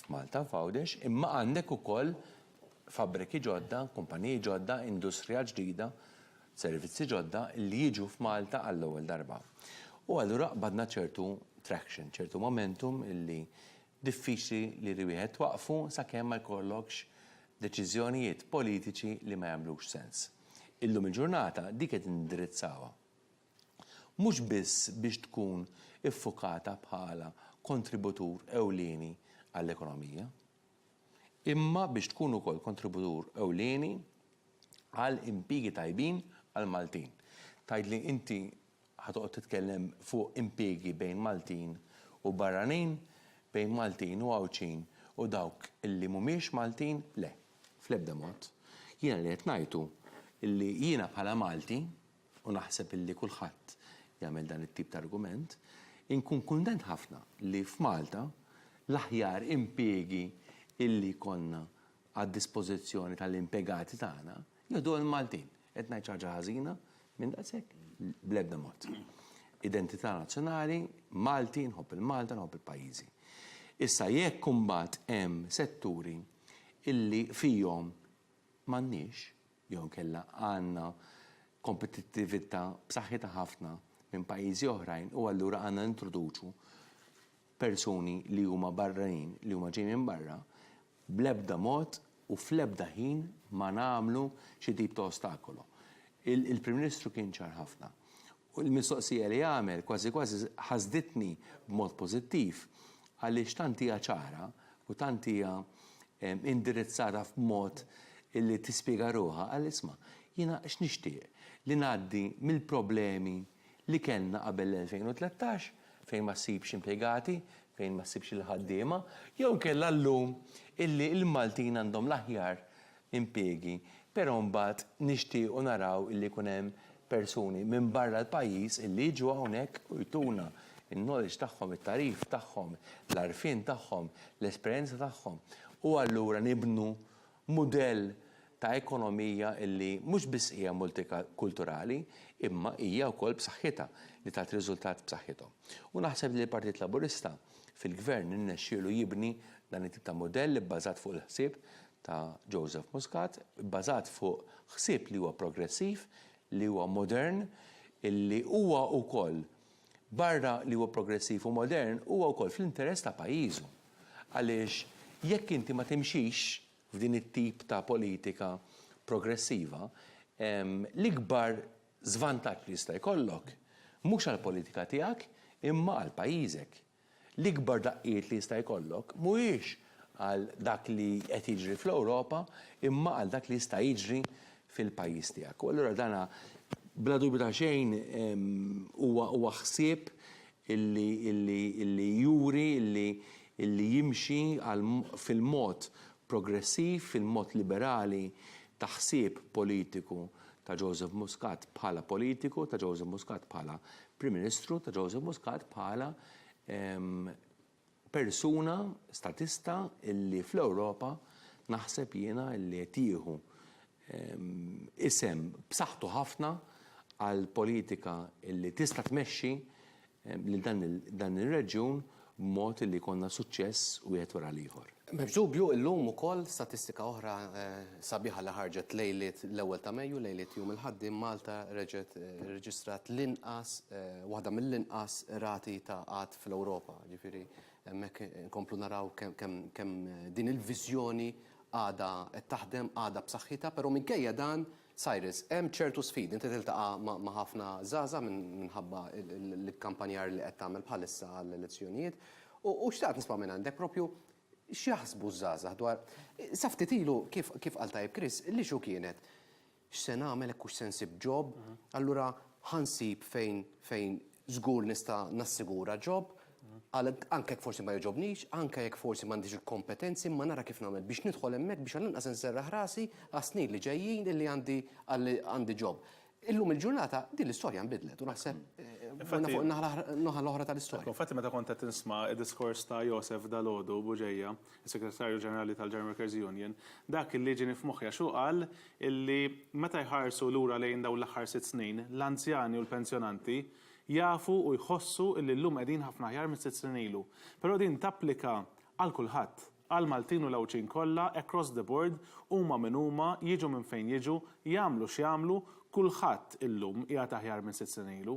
f'Malta, f'Għawdex, imma għandek ukoll fabbriki ġodda, kumpaniji ġodda, industrija ġdida, servizzi ġodda li jiġu f'Malta għall-ewwel darba. U allura qbadna ċertu traction, ċertu momentum li diffiċli li li wieħed twaqqfu sakemm ma jkollokx deċiżjonijiet politiċi li ma jagħmlux sens. Illum il-ġurnata dik qed nindirizzawha. Mhux biss biex tkun iffukata bħala kontributur ewlieni għall-ekonomija. imma biex tkun ukoll kontributur ewlieni għal impjiegi tajbin għall-Maltin. Tgħidli inti ħa toqgħod titkellem fuq impjiegi bejn Maltin u barranin, bejn Maltin u Għawdxin u dawk li mhumiex Maltin? Le, fl-ebda mod. Jiena li qed ngħid hu li jiena bħala Malti, u naħseb illi kulħadd jagħmel dan it-tip ta' argument, inkun kuntent ħafna li f'Malta l-aħjar impiegi illi jkollna għad-dispożizzjoni tal-impjegati tagħna jieħduha l-Maltin. Qed ngħid xi ħaġa ħażina minn daqshekk? Bl-ebda mod. Identità nazzjonali, Malti, nħobb il-Malta, nħobb il-pajjiżi. Issa jekk imbagħad hemm setturi illi fihom m'għandniex jew inkella għandna kompetittività b'saħħitha ħafna minn pajjiżi oħrajn u allura għandna nintroduċu persuni li huma barranin, li huma ġejjin minn barra, bl-ebda mod u fl-ebda ħin ma nagħmlu xi tip ta' ostakolo. Il-Prim Ministru kien ċar ħafna U l-mistoqsija li għamel kważi kważi ħasditni b'mod pożittiv għaliex tant hija ċara u tant hija indirizzata f'mod li tispjega ruħha, qal isma', jiena x'nixtieq, li ngħaddi mill-problemi li kellna qabel l-2013 fejn ma ssibx impjegati, fejn ma ssibx il-ħaddiema, jew inkella llum illi l-Maltin għandhom l-aħjar impjiegi, però mbagħad nixtiequ naraw illi jkun hemm persuni minn barra l-pajjiż illi jiġu hawnhekk u jtuna n-knowledge tagħhom, it-tagħrif tagħhom, l-għarfien tagħhom, l-esperjenza tagħhom u allura nibnu mudell ta' ekonomija illi mhux biss hija multikulturali imma hija wkoll b'saħħitha li tagħti riżultat b'saħħithom. U naħseb li l-Partit Laburista fil-Gvern irnexxielu jibni dan it-tip ta' mudell ibbażat fuq il-ħsieb ta' Joseph Muscat, bbażat fuq ħsieb li huwa progressiv, li huwa modern, li huwa wkoll barra li huwa progressiv u modern, huwa wkoll fl-interess ta' pajjiżu. Għaliex jekk inti ma timxix f'din it-tip ta' politika progressiva, l-ikbar żvantaġġ li jista' jkollok, mhux għall-politika tiegħek, imma għal pajjiżek. L-ikbar daqqiet li jista' jkollok mhuwiex għal dak li qed jiġri fl-Ewropa imma għal dak li jista' jiġri fil-pajjiż tiegħek. U allura dan bla dubju ta' xejn huwa ħsieb li juri li jimxi fil-mod progressiv, fil-mod liberali ta' ħsieb politiku ta' Joseph Muscat bħala politiku, ta' Joseph Muscat bħala Prim Ministru ta' Joseph Muscat bħala persuna statista illi fl-Ewropa naħseb jiena illi qed jieħu isem b'saħħtu ħafna għall-politika illi tista' tmexxi lil dan ir-reġjun b'mod li jkollna suċċess wieħed wara l-ieħor. M'hemmx dubju, illum ukoll statistika oħra sabiħa li ħarġet lejliet l-ewwel ta' Mejju, lejliet Jum il-Ħaddiem, Malta reġgħet irreġistrat l-inqas, waħda mill-inqas rati ta' qgħad fl-Ewropa. Jiġifieri hemmhekk inkomplu naraw kemm din il-viżjoni għadha qed taħdem, għadha b'saħħitha, però minkejja dan, Cyrus, hemm ċertu sfidi, inti tiltaqa' ma' ħafna żgħażagħ minħabba l-ikkampanjar li qed tagħmel bħalissa għall-elezzjonijiet u xtaqt nisma' mingħandek proprju x'jaħsbu ż-żgħażagħ dwar sa ftit ilu kif qal tajjeb Chris, l-issue kienet x'se nagħmel hekk hux se nsib job, allura ħa nsib fejn żgur nista' nassigura job, Anke jekk forsi ma jogħġobnix, anke jekk forsi m'għandix il-kompetenzi, imma nara kif nagħmel biex nidħol hemmhekk biex għall-inqas inserraħ rasi għas-snin li ġejjin illi għandi għandi job. Illum il-ġurnata din l-istorja nbidlet u naħseb morna fuq in-naħa l-oħra tal-istorja. Infatti meta kont qed nisma' d-diskors ta' Joseph dalgħodu Bugeja, is-Segretarju Ġenerali tal-German Workers Union, dak illi ġieni f'moħħi għax hu qal illi meta jħarsu lura lejn dawn l-aħħar sitt snin, l-anzjani u l-pensjonanti jafu u jħossu illi llum qegħdin ħafna aħjar minn sitt snin ilu. Però din tapplika għal kulħadd, għall-Maltin u l-Għawdxin kollha across the board, huma min huma, jiġu minn fejn jiġu, jagħmlu x'jagħmlu, kulħadd illum qiegħed aħjar minn sitt snin ilu.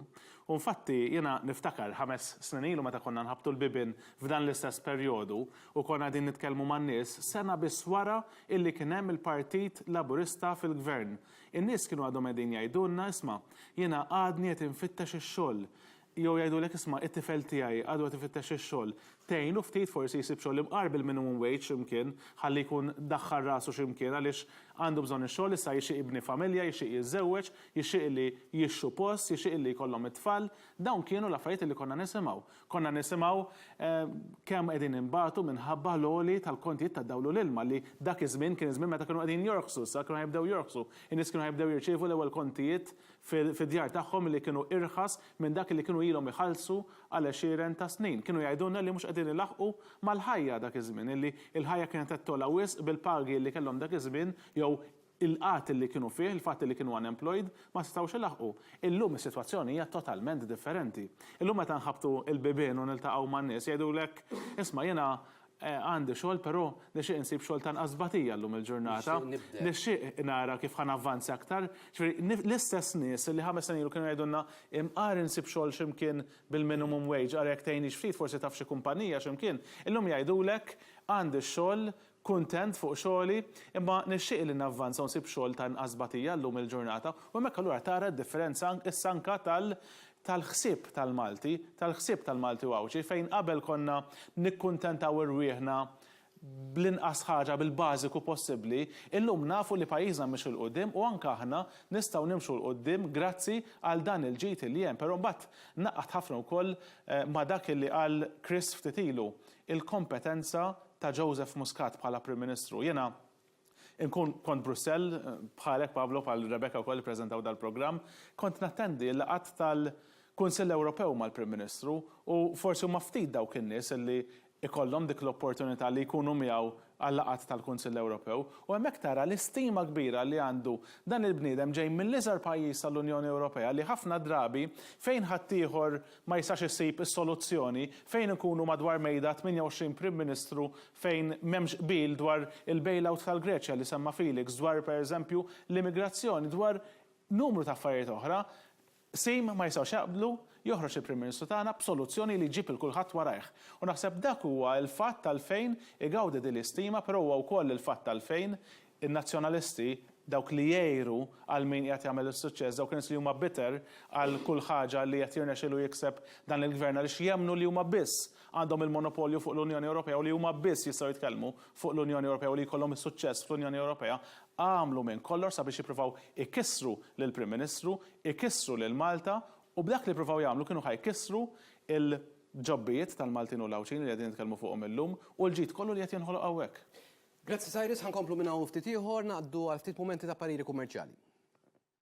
U nfatti jiena niftakar ħames snin ilu meta konna nħabbtu l-bibien f'dan l-istess perjodu u konna qegħdin nitkellmu man-nies, sena biss wara illi kien hemm il-Partit Laburista fil-Gvern, In-nies kienu għadhom qegħdin jgħidulna, 'Isma', jiena għadni qed infittex ix-xogħol. Jew jgħidulek, 'Isma', it-tifel tiegħi għadu qed ifittex ix-xogħol. Tgħinu ftit forsi jsib xogħol imqar bil-minimum wage xi mkien, ħalli jkun daħħal rasu xi mkien għaliex għandu bżonn ix-xogħol, issa jixtieq jibni familja, jixtieq jiżżewweġ, jixtieq li jixtru post, jixtieq li jkollhom it-tfal. Dawn kienu l-affarijiet li konna nisimgħu. Konna nisimgħu kemm qegħdin inbatu minħabba l-għoli tal-kontijiet tad-dawl u l-ilma li dak iż-żmien kien iż-żmien meta kienu qegħdin jorħsu, issa kienu ħa jibdew jorħsu. In-nies kienu ħa jibdew jirċievu l-ewwel kontijiet fid-djar tagħhom li kienu irħas minn dak li kienu ilhom iħallsu għal għexieren ta' snin. Kienu jgħidulna li mhux qegħdin ilaħħqu mal-ħajja dak iż-żmien, illi l-ħajja kienet qed togħla wisq bil-pagi li kellhom dak iż-żmien jew Il-qgħad li kienu fih, il-fatt li kienu unemployed, ma setgħux ilaħħqu. Illum is-sitwazzjoni hija totalment differenti. Illum meta nħabbtu l-bibien u niltaqgħu man-nies jgħidulek, isma' jiena għandi xogħol però nixtieq insib xogħol ta' nqas tbatija llum il-ġurnata, nixtieq nara kif ħa navvanza aktar. Jiġifieri l-istess nies li ħames snin ilu kienu jgħidulna imqar insib xogħol xi mkien bil-minimum wage ara jekk tgħinix ftit forsi taf xi kumpanija xi mkien, illum jgħidulek għandi x-xogħol Kuntent fuq xogħli, imma nixtieq li navvanza u nsib xogħol ta' inqas tbatija llum il-ġurnata, u hemmhekk allura tara d-differenza issa anke tal tal-ħsieb tal-Malti, tal-ħsieb tal-Malti u Għawdxi, fejn qabel konna nikkuntentaw irwieħna bl-inqas ħaġa, bil-bażiku possibbli, illum nafu li pajjiżna mhix 'il quddiem u anke aħna nistgħu nimxu 'l quddiem grazzi għal dan il-ġid li hemm. Però mbagħad ngħaqqad ħafna wkoll ma' dak li qal Chris ftit ilu, il-kompetenza ta' Joseph Muscat bħala Prim Ministru. Jiena nkun kont Brussell, bħalek Pavlo, bħal Rebecca wkoll li ppreżentaw dal-programm, kont nattendi l-laqgħat tal-Kunsill Ewropew mal-Prim Ministru u forsi huma ftit dawk in-nies li jkollhom dik l-opportunità li jkunu miegħu għal-laqgħat tal-Kunsill Ewropew u hemmhekk tara l-istima kbira li għandu dan il-bniedem ġej mill-iżgħar pajjiż tal-Unjoni Ewropea li ħafna drabi fejn ħaddieħor ma jistax isib is-soluzzjoni fejn inkunu madwar mejda 28 Prim Ministru fejn m'hemmx qbil dwar il-bailout tal-Greċja li semma Felix dwar pereżempju l-immigrazzjoni dwar numru ta' affarijiet oħra Qsim ma jistgħux jaqblu, joħroġ il-Prim Ministru tagħna b'soluzzjoni li jġib lil kulħadd warajh. U naħseb dak huwa l-fatt għalfejn igawdi din l-istima però huwa wkoll il-fatt għalfejn in-Nazzjonalisti, dawk li jgħiru għal min qiegħed jagħmel is-suċċess, dawk in-nies li huma bitter għal kull ħaġa li qed jirnexxielu jikseb dan il-Gvern għaliex jemmnu li huma biss għandhom il-monopolju fuq l-Unjoni Ewropea u li huma biss jistgħu jitkellmu fuq l-Unjoni Ewropea u li jkollhom is-suċċess fl-Unjoni Ewropea, Għamlu minn kollox sabiex jippruvaw ikissru lill-Prim Ministru, ikissru lil Malta u b'dak li pruvaw jagħmlu kienu ħa jkissru l-ġobbijiet tal-Maltin u l-Għawdxin li qegħdin nitkellmu fuqhom illum u l-ġid kollu li qed jinħoloq hawnhekk. Grazzi Cyrus, ħa nkomplu minn hawn u ftit ieħor, ngħaddu għal ftit mumenti ta' pariri kummerċjali.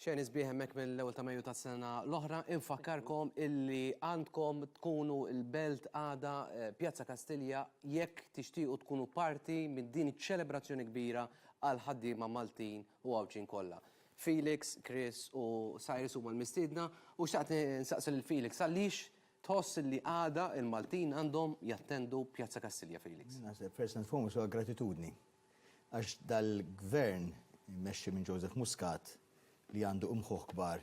Xejn isbieħ hemmhekk mill-ewwel ta' Mejju tas-sena l-oħra, infakkarkom illi għandkom tkunu l-belt għada eh, Pjazza Kastilja jekk tixtiequ tkunu parti minn din iċ-ċelebrazzjoni kbira għall-ħaddiema Maltin u Għawdxin kollha. Felix, Chris u Cyrus huma l-mistiedna u xtaqt insaqsi lil Felix għaliex tħoss li għada l-Maltin għandhom jattendu Pjazza Kastilja, Felix? Naħseb first and foremost huwa gratitudni għax dal-Gvern immexxi minn Joseph Muscat li għandu imħuħ kbar,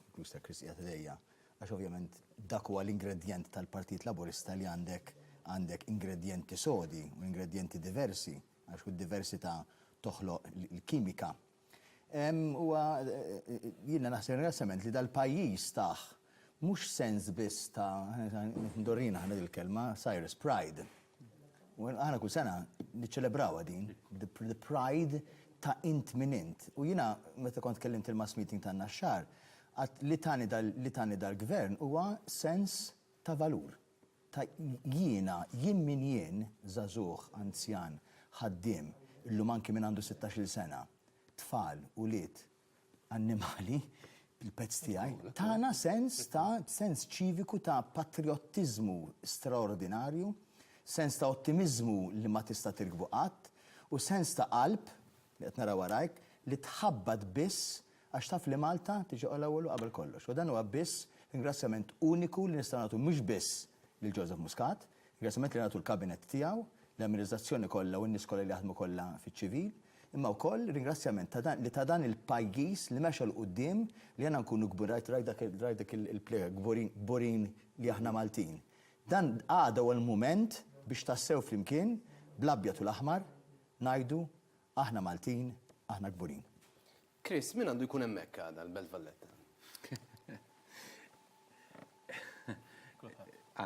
inkluż ta' Chris qiegħed ħdejja, għax ovvjament dak huwa l-ingredjent tal-Partit Laburista li għandek għandek ingredjenti sodi u ingredjenti diversi. Għax kull diversità toħloq l-kimika. Huwa, jiena naħseb ringrazzjament li dal-pajjiż tah mhux sens biss ta' ndorrina aħna dil-kelma, Cyrus Pride. U aħna kull sena niċċelebrawha din, the pride ta' int min int. U jiena meta kont kellimt il-mass meeting tan-Naxxar, għadt li tani dal-Gvern huwa sens ta' valur. ta' jiena, jien min jien, żagħżugħ, anzjan, ħaddiem, illum anki min għandu sittax-il sena, tfal, ulied, annimali, il-pezz tiegħi, tana sens ta' sens ċiviku ta' patrijottiżmu straordinarju, sens ta' ottimiżmu li ma tista' tirkbu qatt, u sens ta' qalb li qed nara warajk, li tħabbat biss għax taf li Malta tiġi l-ewwel u qabel kollox. U dan huwa biss ringrazzjament uniku li nistgħu nagħtu mhux biss lil Joseph Muscat, ringrazzjament li nagħtu l-Kabinett tiegħu, l-amministrazzjoni kollha u n-nies kollha li jaħdmu kollha fiċ-ċivil, imma wkoll ringrazzjament ta' dan li ta' dan il-pajjiż li mexa 'l quddiem li aħna nkunu kbu rajt rajt dak rajt dik il-plega kburin kburin li aħna Maltin. Dan għada huwa l-mument biex tassew flimkien bl-abjad u l-aħmar Ngħidu, Aħna Maltin, aħna kburin. Chris, min għandu jkun hemmhekk għada l-Belt Valletta?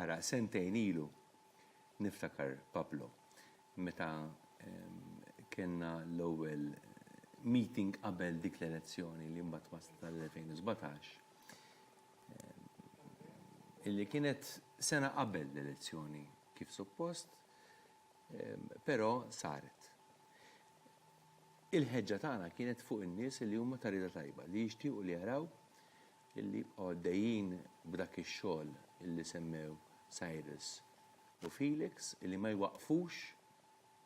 Ara, sentejn ilu, niftakar Pablo, meta kellna l-ewwel meeting qabel dik l-elezzjoni li mbagħad waslet għall-2017, illi kienet sena qabel l-elezzjoni kif suppost, Però saret. Il-ħeġġa tagħna kienet fuq in-nies li huma ta' rieda tajba, li jixtiequ li jaraw li jibqgħu għaddejjin b'dak ix-xogħol li semmew Cyrus u Felix, li ma jwaqqfux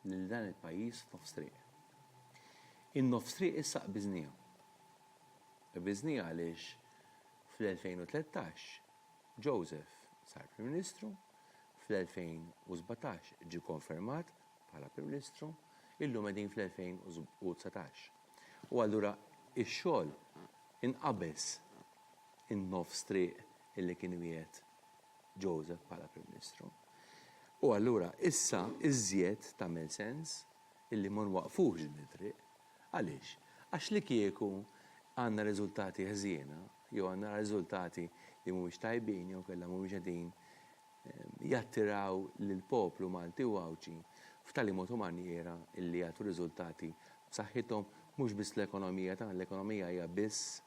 lil dan il-pajjiż f'nofs triq. In-nofs triq issa qbiżniha. Qbiżniha għaliex fl-2013 Joseph sar Prim Ministru, fl-2017 ġie konfermat bħala Prim Ministru, illum qegħdin fl-2019. U allura x-xogħol inqabeż in-nofs triq illi kien wiegħed Joseph bħala Prim Ministru. U allura issa iżjed tagħmel sens illi ma nwaqqfux din it-triq. Għaliex? Għax li kieku għandna riżultati ħżiena jew għandna riżultati li mhumiex tajbin jew inkella mhumiex qegħdin jattiraw lill-poplu Malti u Għawdxi f'tali mod u manjiera li jagħtu riżultati b'saħħithom mhux biss l-ekonomija tagħna, l-ekonomija hija biss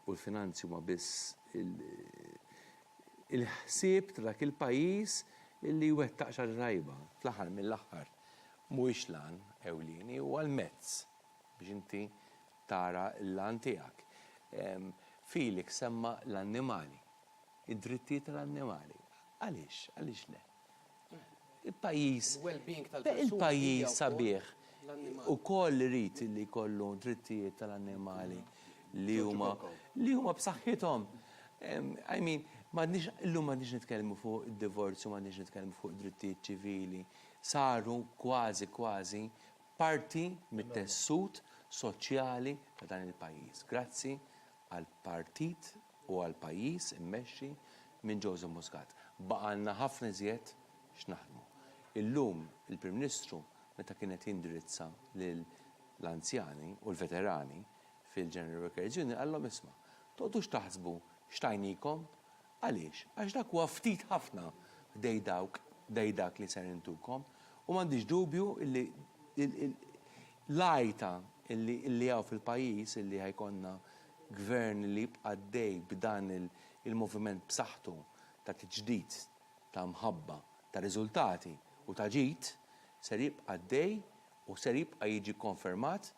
u l-finanzi huma biss il-ħsieb ta' dak il-pajjiż li jwettaq xi ħaġa tajba fl-aħħar mill-aħħar. mhuwiex l-għan ewlieni, huwa l-mezz biex inti tara l-għan tiegħek. Felix semma l-annimali, id-drittijiet tal-annimali. Għaliex? Għaliex le? Il-pajjiż. Il-well-being tal-persuni. Il-pajjiż sabiħ ukoll irid li jkollu drittijiet tal-annimali li huma li huma b'saħħithom. I mean, m'għadniex illum m'għadniex nitkellmu fuq id-divorzju, m'għadniex nitkellmu fuq drittijiet ċivili. saru kważi kważi parti mit-tessut soċjali ta' dan il-pajjiż grazzi għall-partit u għall-pajjiż immexxi minn Joseph Muscat. Baqgħalna ħafna iżjed x'naħdmu. Illum il-Prim Ministru meta kien qed jindirizza lill-anzjani u l-veterani fil-General Workers' Union qallhom isma', toqgħodux taħsbu x'tajnikom Għaliex? Għax dak huwa ftit ħafna ħdej dawk, ħdej dak li ser intukom, u m'għandix dubju li l-għajta li hawn fil-pajjiż li ħa jkollna Gvern li jibqa' għaddej b'dan il-moviment b'saħħtu ta' tiġdid, ta' mħabba, ta' riżultati u ta' ġid, ser jibqa' għaddej u ser jibqa' jiġi kkonfermat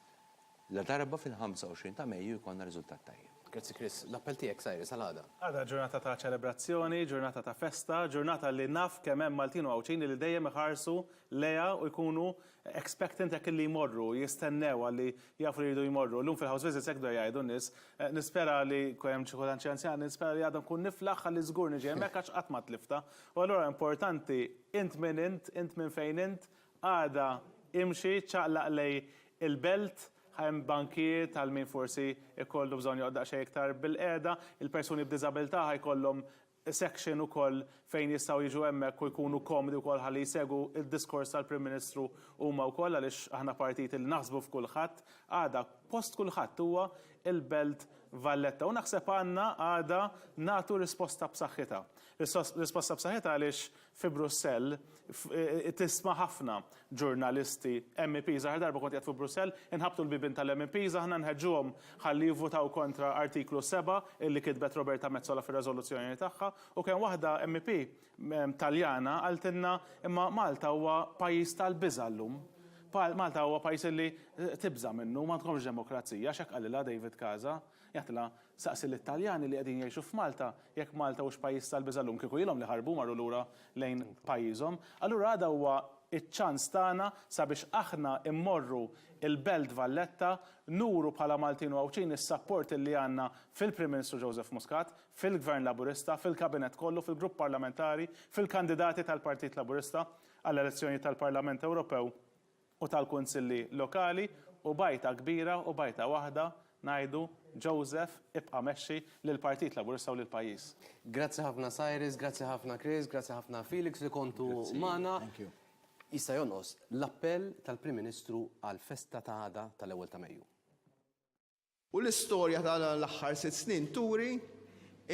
Ladarba fil-25 ta' Mejju jkollna riżultat tajjeb. Grazzi Chris. L-appell tiegħek Cyrus għal għada? Għada ġurnata ta' ċelebrazzjoni, ġurnata ta' festa, ġurnata li naf kemm hemm Maltin u Għawdxin li dejjem iħarsu lejha u jkunu expectant jekk illi jmorru, jistennew għalli jafu li jridu jmorru. Illum fil-house visits hekk bdew jgħidu n-nies. Nispera li, jkun hemm xi kultant xi anzjani, nispera li għada nkun niflaħ għalli żgur niġi hemmhekk għax qatt ma tliftha. U allura importanti int min int, int minn fejn int, Għada, imxi, ċaqlaq lej il-belt, hemm bankijiet għal min forsi jkollu bżonn joqgħod daqsxejn iktar bilqiegħda. Il-persuni b'diżabilità ħa jkollhom section ukoll fejn jistgħu jiġu hemmhekk u jkunu komdi wkoll ħalli jsegwu d-diskors tal-Prim Ministru huma wkoll għaliex aħna partit li naħsbu f'kulħadd. Għada, post kulħadd huwa l-Belt Valletta u naħseb għandna għada nagħtu risposta b'saħħitha. Risposta b'saħħitha għaliex fi Brussell, tisma' ħafna ġurnalisti, MEPs, l-aħħar darba kont qiegħed fi Brussell, inħabbtu l-bibien tal-MEPs aħna nħeġġuhom ħalli jivvutaw kontra Artiklu 7 illi kitbet Roberta Metsola fir-reżoluzzjoni tagħha u kien waħda MEP Taljana qaltilna imma Malta huwa pajjiż tal-biża' llum. Malta huwa pajjiż illi tibża' minnu, m'għandkomx demokrazija, għax hekk qalilha David Casa. Jaħtla saqsi lit-Taljani li qegħdin jgħixu f'Malta jekk Malta hux pajjiż tal-biża' llum, kieku ilhom li ħarbu u marru lura lejn pajjiżhom. Allura għada huwa ċ-ċans tagħna sabiex aħna mmorru l-Belt Valletta nuru bħala Maltin u Għawdxin is-sapport illi għandna fil-Prim Ministru Joseph Muscat, fil-Gvern Laburista, fil-Kabinett kollu, fil-Grupp Parlamentari, fil-kandidati tal-Partit Laburista għall-elezzjonijiet tal-Parlament Ewropew. u tal-kunsilli lokali u b'għajta kbira u b'għajta waħda ngħidu, Joseph, ibqa' mexxi lill-Partit Laburista u lill-pajjiż. Grazzi ħafna Cyrus, grazzi ħafna Chris, grazzi ħafna Felix li kontu magħna. Jista' jonqos l-appell tal-Prim Ministru għall-festa ta' għada tal-Ewwel ta' Mejju. U l-istorja ta' dan l-aħħar sitt snin turi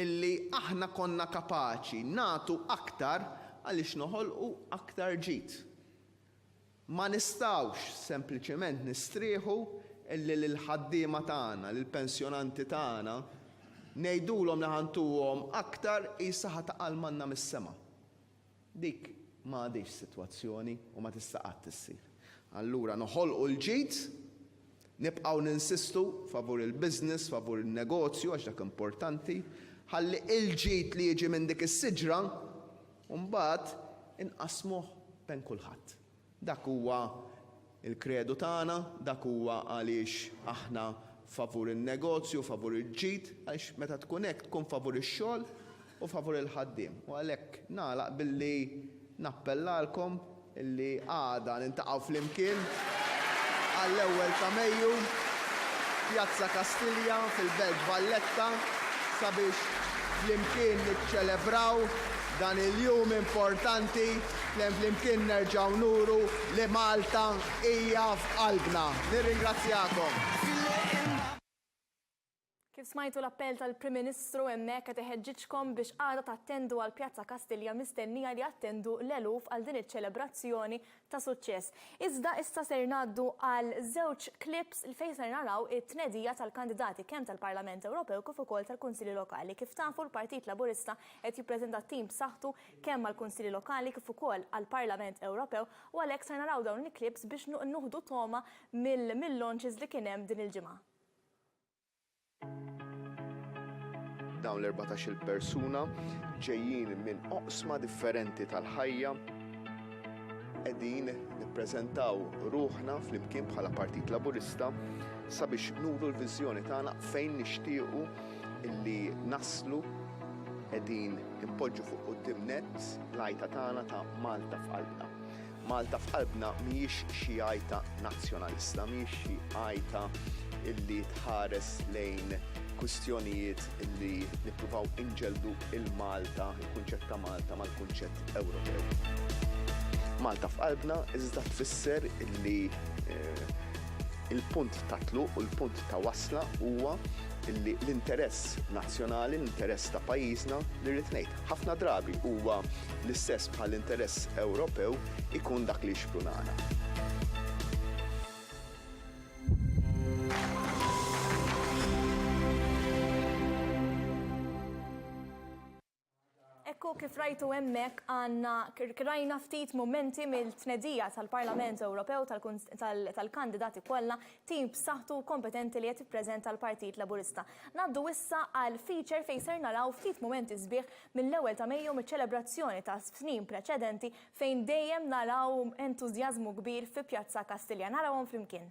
illi aħna konna kapaċi nagħtu aktar għaliex noħolqu aktar ġid. Ma nistgħux sempliċement nistrieħu illi lill-ħaddiema tagħna, lill-pensjonanti tagħna, ngħidulhom li ħa ntuhom aktar qisha ħa taqa' l-manna mis-sema. Dik ma għadhiex sitwazzjoni u ma tista' qatt issir. Allura noħolqu l-ġid, nibqgħu ninsistu favur il-business, favur in-negozju għax dak importanti, ħalli il-ġid li jiġi minn dik is-siġra mbagħad inqassmuh bejn kulħadd. Dak huwa l-kredu tagħna, dak huwa għaliex aħna favur in-negozju, favur il-ġid, għaliex meta tkun hekk tkun favur ix-xogħol u favur il-ħaddiem. U għalhekk nagħlaq billi nappellalkom illi għada niltaqgħu flimkien għall-ewwel ta' Mejju f'Pjazza Kastilja fil-Belt Valletta sabiex flimkien niċċelebraw dan il-jum importanti. F'Tnejn Flimkien nerġgħu nuru li Malta hija f'qalbna. Nirringrazzjakom. Kif smajtu l-appell tal-Prim Ministru hemmhekk qed iħeġġiġkom biex għada tattendu għal Pjazza Kastilja mistennija li jattendu l-eluf għal din iċ-ċelebrazzjoni ta' suċċess. Iżda issa ser ngħaddu għal żewġ clips fejn ser naraw it-tnedija tal-kandidati kemm tal-Parlament Ewropew kif ukoll tal-Kunsilli Lokali. Kif tafu l-Partit Laburista qed jippreżenta tim b'saħħtu kemm għall-Kunsilli Lokali kif ukoll għall-Parlament Ewropew u għalhekk ser naraw dawn il-clips biex nuħdu togħma mill-launches li kien hemm din il-ġimgħa. Dawn l-erbatax-il persuna ġejjin minn oqsma differenti tal-ħajja. Qegħdin nippreżentaw ruħna flimkien bħala Partit Laburista sabiex nuru l-viżjoni tagħna fejn nixtiequ illi naslu qegħdin Inpoġġu fuq quddiem nett l-għajta tagħna ta' Malta f'Qalbna. Malta f'Qalbna mhijiex xi għajta nazzjonalista, mhijiex xi għajta li tħares lejn kwistjonijiet li nippruvaw inġelldu l-Malta, il-kunċett ta' Malta mal-kunċett Ewropew. Malta f'Qalbna iżda tfisser li l-punt ta' tluq u l-punt ta' wasla huwa illi l-interess nazzjonali, l-interess ta' pajjiżna, li rrid ngħid, ħafna drabi huwa l-istess bħal interess Ewropew, ikun dak li jixprunana. Ekku kif rajtu hemmhekk għandna rajna ftit mumenti mill-tnedija tal-Parlament Ewropew tal-kandidati kollha, tim b'saħħtu u kompetenti li qed jippreżenta l-Partit Laburista. Ngħaddu issa għal feature fejn ser naraw ftit mumenti sbieħ mill-ewwel ta' Mejju miċ-ċelebrazzjoni ta' snin preċedenti fejn dejjem naraw entużjażmu kbir fi Pjazza Kastilja. Narawhom flimkien.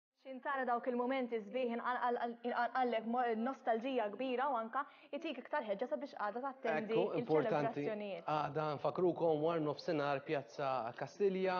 X'ħin tara dawk il-mumenti sbieħ inqanqallek nostalġija kbira u anke jtik iktar ħeġġa sabiex għada tattendi l-ċelebrazzjonijiet. Għada nfakkrukom war nofsinhar Pjazza Kastilja,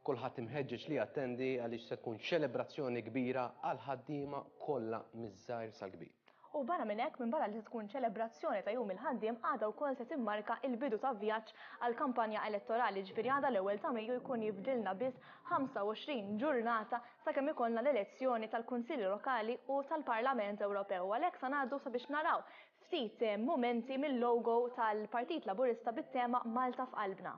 kulħadd imħeġġeġ li jattendi għaliex se tkun ċelebrazzjoni kbira għall-ħaddiema kollha miż-żgħir sal-kbir. U barra minn hekk, minbarra li se tkun ċelebrazzjoni ta' Jum il-Ħaddiem, għada wkoll se timmarka l-bidu ta' vjaġġ għall-kampanja elettorali, jiġifieri għada l-ewwel ta' Mejju jkun jifdilna biss 25 ġurnata sakemm ikollna l-elezzjoni tal-Kunsilli Lokali u tal-Parlament Ewropew u għalhekk sa ngħaddu sabiex naraw ftit mumenti mil-logo tal-Partit Laburista bit-tema Malta f'Qalbna.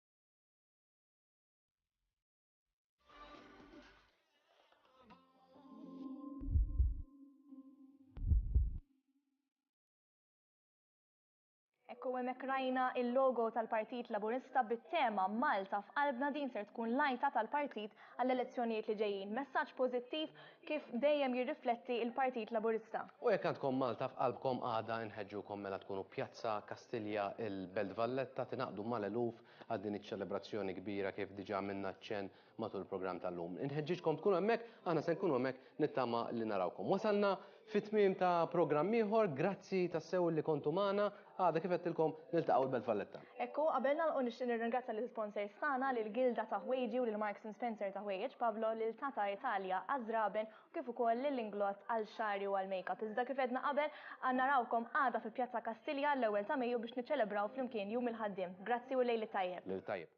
Ekku hemmhekk rajna il-logo tal-Partit Laburista bit-tema Malta f'qalbna din ser tkun lajta tal-partit għall-elezzjonijiet li ġejjin. Messaġġ pożittiv kif dejjem jirrifletti il-Partit Laburista. U jekk għandkom Malta f'qalbkom għada inħeġġukom mela tkunu Pjazza Kastilja, il-Belt Valletta, tingħaqdu mal-eluf għal din iċ-ċelebrazzjoni kbira kif diġa għamilna ċenn matul il-programm tal-lum. Inħeġġiġkom tkunu hemmhekk, aħna se nkunu hemmhekk nittama li narawkom. Wasalna fi tmiem ta' programm ieħor, grazzi tassew li kontu magħna, Għada kif għedtilkom niltaqgħu l-Belt Valletta. Ekku, qabel nagħlqu nixtieq nirringrazzja l sponsors tagħna lil Gilda ta' Ħwejġi u lil Marks and Spencer ta' Ħwejjeġ Pablo lil Tata Italia għaż-żraben u kif ukoll lil Inglott għal xagħri u għal makeup. Iżda kif għedna qabel, narawkom għada fi Pjazza Kastilja l-ewwel ta' Mejju biex niċċelebraw flimkien Jum il-Ħaddiem. Grazzi u l-lejl it-tajjeb. Lejl tajjeb.